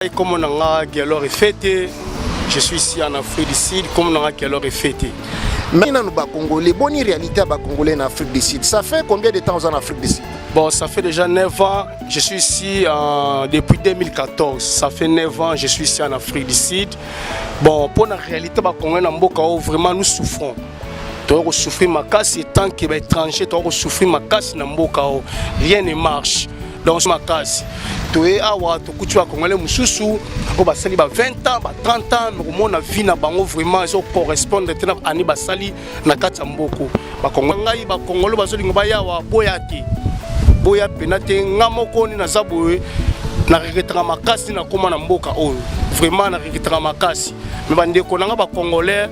ngai komo na nga gelor efete je suis ici en afrique du sud komo na nga gelor efete mais nanu bacongolais boni réalité ya bacongolais na afrique du sud ça fait combien de temps oza na afrique du sud Bon, ça fait déjà 9 ans, je suis ici euh, depuis 2014. Ça fait 9 ans, je suis ici en Afrique du Sud. Bon, pour la réalité, bah, on a Mboka, oh, vraiment, nous souffrons. toko souffrir makasi tant que ba étranger toko souffrir makasi na mboka o rien ne marche donc makasi toye awa tokuti bakongole mosusu oyo basali ba 20 ans ba 30 ans mekomona vie na bango vraiment ezo correspondre te na ani basali na kati ya mboko bakongole ngai bakongole bazolinga bayawa boya te boya mpena te nga moko nde naza boye na regretaka makasi nakóma na mboka oyo vraiment na regretaka makasi me bandeko na nga bacongolais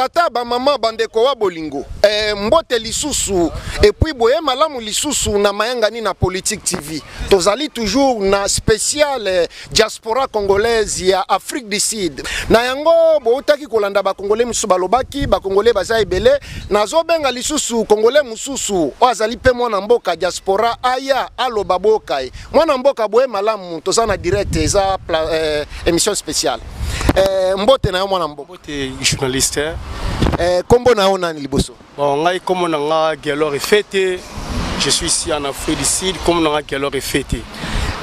batata bamama bandeko wa bolingo e, mbote lisusu epuis boye malamu lisusu na mayangani na politique tv tozali toujours na spécial eh, diaspora congolaise ya afrique du sud na yango boutaki kolanda bakongole mosusu balobaki bakongole baza ebele nazobenga lisusu kongole mosusu oyo azali mpe mwana mboka diaspora aya aloba boyoka ye mwana mboka boye malamu toza na direct eza euh, émission spéciale euh, mbote na yo mwana mboka mbote journaliste euh, kombo na yo nani liboso bon ngai kombo na nga Gelor Efete je suis ici en Afrique du Sud kombo na nga Gelor Efete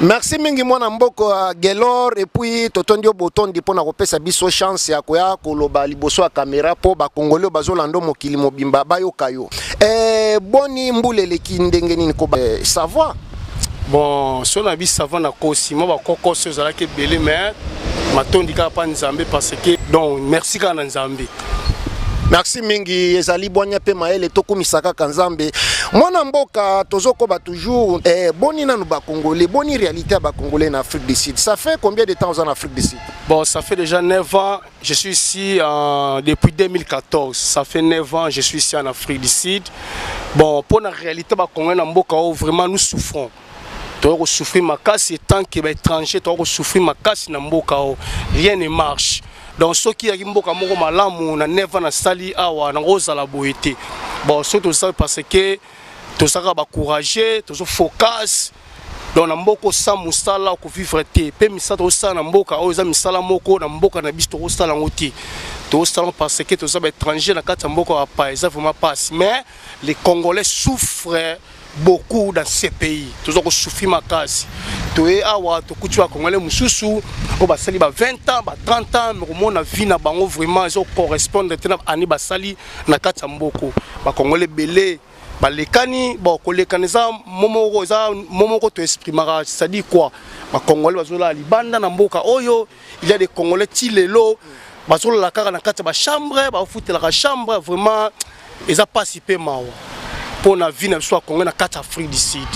merci mingi mwana mboka euh, Gelor et puis totondi yo botondi mpo na kopesa biso chance ya koya koloba liboso ya kamera mpo bakongoli oyo bazolanda mokili mobimba bayoka yo eh, boni mbula eleki ndenge nini ko eh, savoir bon so na bi savant na kosi mwa bakokoso ezalaki ebele mais matondi kaka mpa nzambe parce que donc merci kaka na nzambe merci mingi ezali bwanya mpe mayele tokumisa kaka nzambe mwana mboka tozokoba toujours eh, boni nanu bacongolais boni réalité ya bacongolais na afrique du sud ça fait combien de temps oza na afrique du sud bon ça fait déjà 9 ans Je suis ici euh, depuis 2014, ça fait 9 ans, je suis ici en Afrique du Sud. Bon, pour la réalité, bah, on a mboka où vraiment nous souffrons. Toko souffrir ma casse et tant que étranger, toko souffrir ma casse na mboka où rien ne marche. Donc ceux qui yaki mboka moko malamu na 9 ans na sali awa na ozala boyete. Bon, surtout ça parce que tozalaka ba courageux tozo focus donc na mboka osa mosala okovivre te mpe misala tokosala na mboka oyo eza misala moko na mboka na biso tokosala yango te tokosala yango parce que toza baétranger na kati ya mboka ya bapaya eza vraiment passe mais les congolais souffre beaucoup dans ce pays toza kosufi makasi toye awa tokuti bakongole mosusu oyo basali ba 20 ans ba 30 ans mekomona vie na bango vraiment ezokorrespondre te na année basali na kati ya mboko bakongole ebele balekani bon kolekana eza momoko eza momoko to exprimaka c'est-à-dire quoi bakongole bazolala libanda na mboka oyo il y a des congolais ti lelo bazolala kaka na kati ya bachambre bafutelaka chambre vraiment eza mpasi mpe mawa mpo na vie na biso ya congolais na kati ya afrique du sud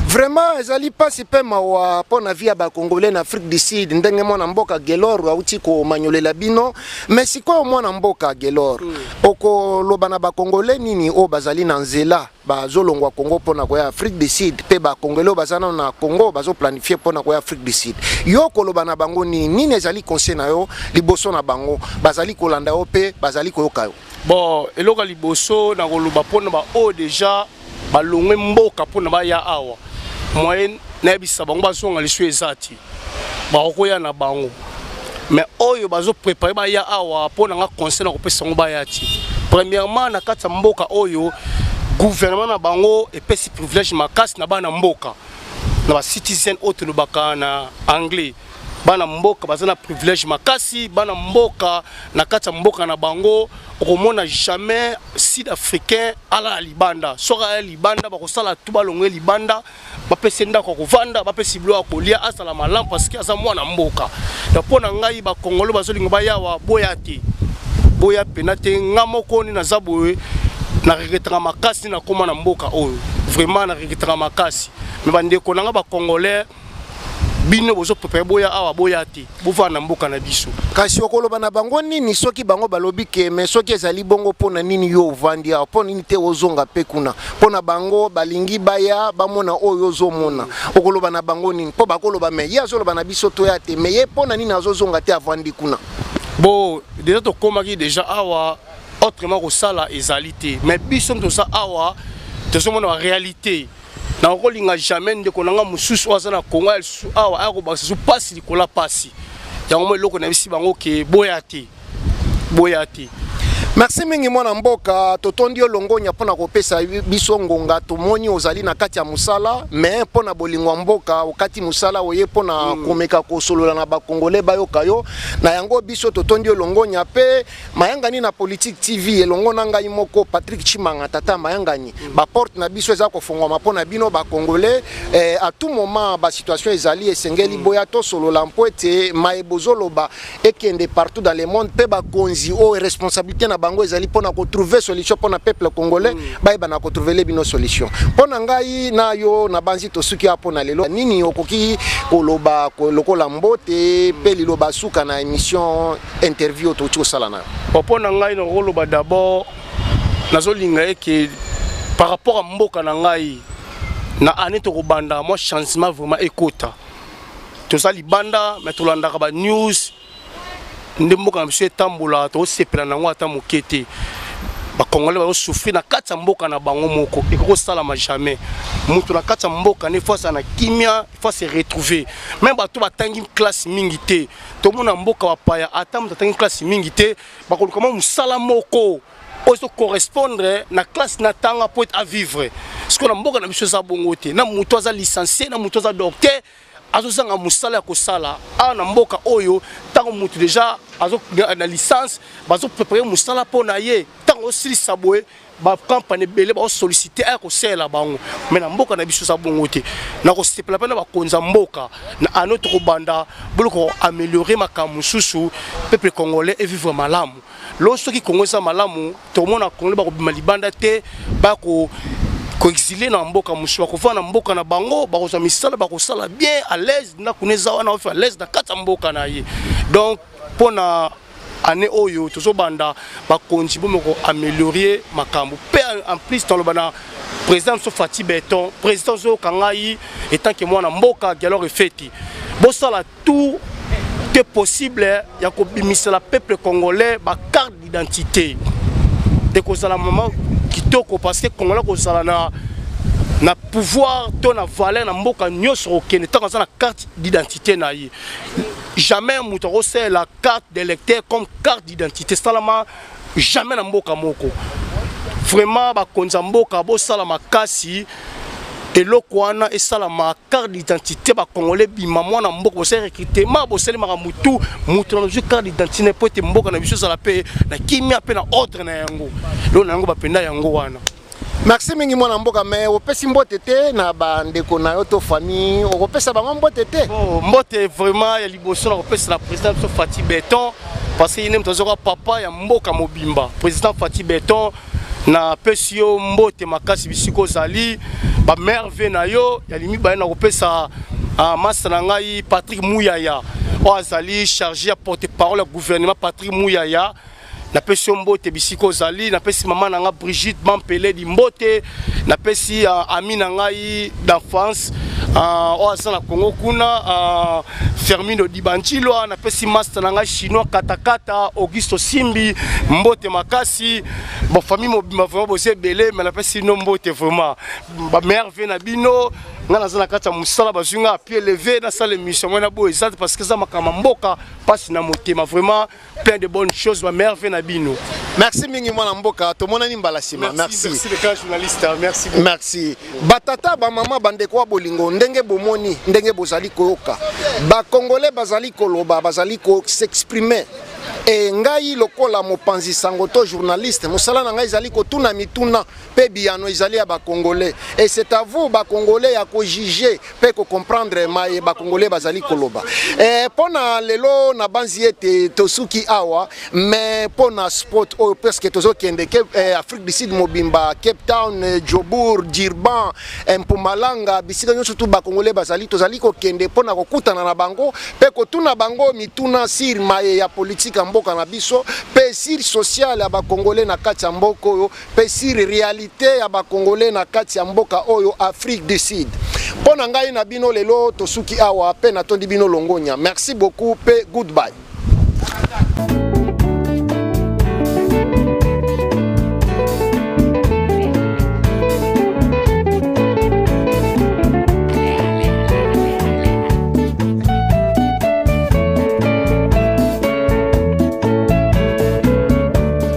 vraiment ezali mpasi mpe mawa mpo na vie ya bacongolais na afrique du sud ndenge mwana mboka gelor auti komanyolela bino mais sikoyo mwana mboka gelor mm. okoloba na bacongolais nini oyo bazali na nzela bazolongwa congo mpo na koya afrique du sud mpe bacongolais oyo baza nano na congo bazoplanifie mpo na koya afrique du sud yo okoloba na bango nini nini ezali conseil na yo liboso na bango bazali kolanda yo mpe bazali koyoka yo Bon, eloko ya liboso na koloba mpo na baoyo deja balongwe mboka mpo na baya awa moyen nayebisa bango bazonga lisu eza ti bakokoya na bango mais oyo bazoprepare baya awa mpo na nga conseil na kopesa yango baya ti premièrement na kati ya mboka oyo gouvernement na bango epesi privilège makasi na bana mboka na ba citizen oyo tolobaka na anglais bana mboka baza na privilège makasi bana mboka na kati ya mboka na bango okomona jamais sud africain alala libanda soki aya libanda bakosala tu balongo ye libanda bapesi ndako ya kovanda bapesi bilo ya kolia azala malamu parceke aza mwana mboka ya mpo na ngai bakongolo bazolinga bayawa boya te boya mpena te nga moko nini naza boye na regretaka makasi nakóma na mboka oyo vraiment na regretaka makasi me bandeko na nga bacongolais bino bozo prepare boya awa boya te bovaa na mboka na biso kasi okoloba na bango nini soki bango balobi ke me soki ezali bongo mpo na nini yo ovandi awa mpo nini te ozonga mpe kuna mpo na bango balingi baya bamona oyo ozomona okoloba na bango nini mpo bakoloba me ye azoloba na biso toya te me ye mpo na nini azozonga te avandi kuna bo deja tokomaki deja awa autrement kosala ezali te me biso toza awa tozomona barealité na kolinga jamais ndeko na nga mosusu oyo aza na kongo ya lisusu awa aya kobakisa lisusu mpasi likolo ya mpasi yango mo eloko nayebisi bango ke boya te boya te merci mingi mwana mboka totondi yo longonya mpo na kopesa biso ngonga tomoni ozali na kati ya mosala me mpo na bolingo ya mboka okati mosala oye mpo na mm. komeka kosolola na bakongole bayoka yo na yango biso totondi yo longonya mpe Mayangani na Politique TV elongo na ngai moko Patrick Chimanga tata mayangani mm. ba porte na biso eza kofongwama mpo na bino ba congolais eh, à tout moment ba situation ezali esengeli mm. boya tosolola mpo ete maye bozoloba ekende partout dans le monde mpe bakonzi oyo oh, responsabilité na bango ezali mpo na kotrouve solution mpo na peuple congolais mm. bayeba na kotrouvele bino solution mpo na ngai na yo na banzi tosuki apo na lelo nini okoki koloba lokola mbote mpe liloba suka na émission interview oyo touti kosala nayo mpo na ngai nakoloba d'abord nazolinga ye ke par rapport ya mboka na ngai na année tokobanda mwa changement vraiment ekota toza libanda me tolandaka banews nde mboka na biso etambola tosepela na yango ata moke te bakongolais bazosouffrir na kati ya mboka na bango moko ekoki kosalama jamais moto na kati ya mboka nde fo azala na kimia fo ase retrouve me bato batangi classe mingi te tomona mboka bapaya ata moto atangi klasi mingi te bakoluka mwa mosala moko oyo ezokorrespondre na klase na tanga mpo ete avivre sikoyo na mboka na biso eza bongo te na moto aza licencie na moto aza docteur azozanga mosala ya kosala awa na mboka oyo ntango moto deja na licence bazoprepare mosala mpo na ye ntango osilisa boye ba campagne ebele ba solliciter aya kosalela bango mais na mboka na biso eza bongo te na kosepela mpe na bakonzi ya mboka na ano tokobanda bolo koameliore makambo mosusu peuple congolais evivre malamu lo soki kongo eza malamu tokomona congolais bakobima libanda te bako koexile na mboka mosusu bakofanda na mboka na bango bakozwa misala bakosala bien à l'aise ndako na eza wana ofi à l'aise na kati ya mboka na ye donc mpo na année oyo tozobanda bakonzi bomi ko améliorer makambo mpe en plus toloba na président biso fati beton président ozoyoka ngai etanke mwana mboka dialogue efeti bosala tout te possible ya kobimisela peuple congolais bacarte d'identité ekozala mama kitoko parce que congolais kozala na na pouvoir to na valeur na mboka nyonso kokende ntango aza na carte d'identité na ye jamais moto akosalela carte d'électeur comme carte d'identité esalama jamais na mboka moko vraiment bakonzi ya mboka bosala makasi eloko wana esalama carte d'identité bakongole ebima mwana mboka bosali recrutement bosalemaka motu moto na nazwi carte d'identité na mpo ete mboka na biso ezala mpe na kimia mpe na ordre na yango lelo na yango bapenda yango wana merci mingi mwana mboka me opesi mbote te na bandeko na yo to famille okopesa bango mbote te oh, mbote vraiment ya liboso na kopesa na président biso fati beton parce que ye nde moto azoka papa ya mboka mobimba président fati beton napesi yo mbote makasi bisika ozali bamerve na yo ya limi baye na kopesa ah, masta na ngai patrick muyaya oyo azali chargé ya porte parole ya gouvernement patrick muyaya napesi yo mbote bisika ozali napesi mama na ngai brigitte bampeledi mbote napesi uh, ami na ngai d'enfance ah, oyo uh, aza na congo kuna uh, fermino dibanchilwa napesi master na ngai chinois katakata augusto simbi mbote makasi bon famille mobimba vraiment boza ebele me napesi bino mbote vraiment bamerve na bino nga naza na kati ya mosala bazwi nga apie leve nasala émission ngai na boye eza te parce que eza makambo ya mboka mpasi na motema vraiment plein de bonnes choses ba merveille na bino merci mingi mwana mboka tomonani mbala nsima merci merci le grand journaliste hein. merci beaucoup. merci batata bamama bandeko ya bolingo ndenge bomoni ndenge bozali koyoka bakongole bazali koloba bazali ko s'exprimer e ngai lokola mopanzi sango to journaliste mosala na ngai ezali kotuna mituna pe biyano ezali ya ba congolais et c'est à vous ba congolais ya ko juger pe ko comprendre maye ba congolais bazali koloba eh, pona lelo na banzi ete tosuki awa mais pona sport oyo parce que tozokende eh, afrique du sud mobimba cape town eh, jobourg durban eh, mpumalanga bisika nyonso tu ba congolais bazali tozali kokende pona kokutana na bango pe kotuna bango mituna sur maye ya politique ya mboka na biso pe sur social ya ba congolais na kati ya mboka oyo pe sur realite ya ba congolais na kati ya mboka oyo Afrique du Sud. Mpo na ngai na bino lelo tosuki awa pe natondi bino longonya. Merci beaucoup pe goodbye.